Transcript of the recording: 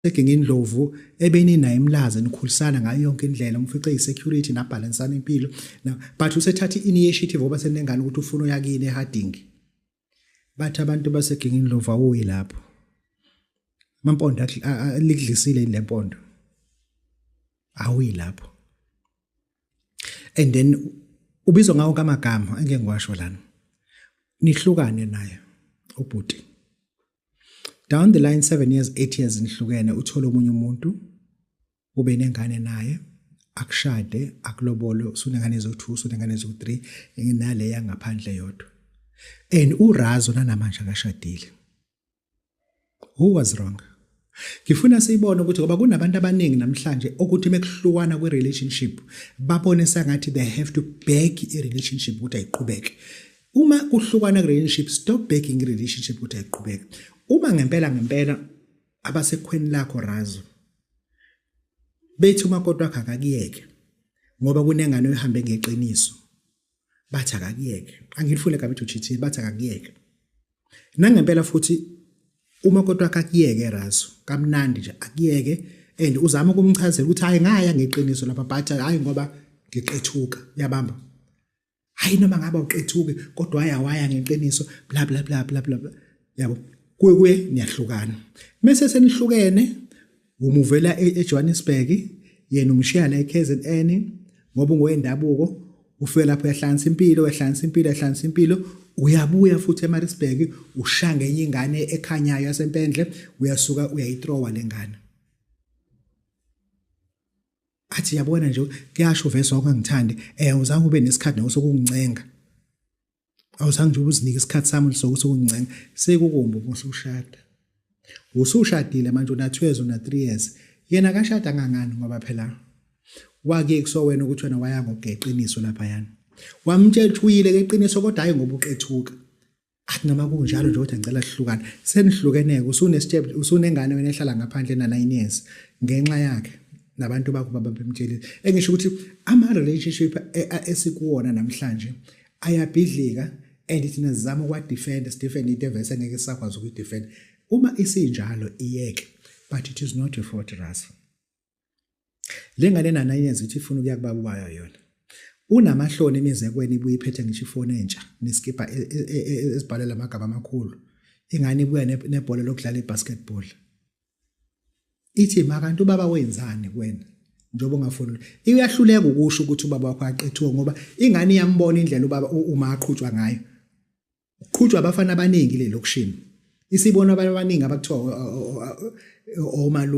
Seginga indlovu ebeninayo imlaze nikhulisana ngayo yonke indlela umfice isecurity nabhalansana impilo but usethatha i-initiative oba senengane ukuthi ufuna uyakini eharding bathi abantu baseginga indlovu awuyi lapho amampondo likudlisile yini le mpondo awuyi lapho and then ubizwa ngawo kamagama engeke ngiwasho lana nihlukane naye ubhuti down the line 7 years 8 years nihlukene uthole omunye umuntu ube nengane naye akushade akulobole usunengane ezo2 usunengane ezo3 nginale yangaphandle yodwa and urazo nanamanje akashadile who was wrong ngifuna siyibone ukuthi ngoba kunabantu abaningi namhlanje ukuthi mekuhlukana kwi relationship babone sengathi they have to beg i relationship ukuthi ayiqhubeke Uma kuhlukana relationship stop begging relationship ukuthi ayiqhubeke. Uma ngempela ngempela abasekhweni lakho razo bethi uma kodwa akakuyeke ngoba kunengane ehambe ngeqiniso bathi akakuyeke angilifune kabi ukuthi uchithi bathi akakuyeke nangempela futhi uma kodwa akakuyeke razo kamnandi nje akuyeke and uzama ukumchazela ukuthi hayi ngaya ngeqiniso lapha but hayi ngoba ngiqethuka yabamba hayi noma ngaba uqethuke kodwa waya waya ngeqiniso bla bla bla bla bla yabo kuye kuye niyahlukana mese senihlukene umuvela e-, eJohannesburg yena umshiya la eKZN ngoba ungowendabuko ufike lapho yahlansa impilo yahlansa impilo yahlansa impilo uyabuya futhi eMaritzburg ushanga enye ingane ekhanyayo yasempendle uyasuka uyayitrowa lengane athi yabona nje kuyasho vese wakangithandi eh uzange ube nesikhathi nawe sokungincenga awuzange nje ubuzinike isikhathi sami sokuthi ukuncenga sekukumbi ukuthi ushada usushadile manje una 2 years una 3 years yena kashada ngangani ngoba phela wake kusowena ukuthi wena waya ngogeqiniso lapha yana wamtshela ukuthi uyile keqiniso kodwa hayi ngoba uqethuka athi noma kunjalo nje kodwa ngicela sihlukane senihlukeneke usunesitshebe usunengane wena ehlala ngaphandle na 9 years ngenxa yakhe nabantu bakho baba bemtshele engisho ukuthi ama relationship e, esikuwona namhlanje ayabhidlika and thina sizama ukwa defend Stephen into evese ngeke sakwazi uku defend uma isinjalo iyeke but it is not your fault Russell Le ngane nana yenza ukuthi ifuna ukuya kubaba wayo yona. Unamahloni emizekweni ibuye iphethe ngisho ifoni entsha nesikibha e, e, e, esibhalela amagama amakhulu. Ingane ibuya nebhola lokudlala ibasketball. Ithi makanti ubaba wenzani kuwena? njengoba ungafuni iyahluleka ukusho ukuthi ubaba wakho aqethiwe ngoba ingane iyambona indlela ubaba uma aqhutshwa ngayo uqhutshwa abafana abaningi le lokushini isibona abantu abaningi abakuthiwa omalu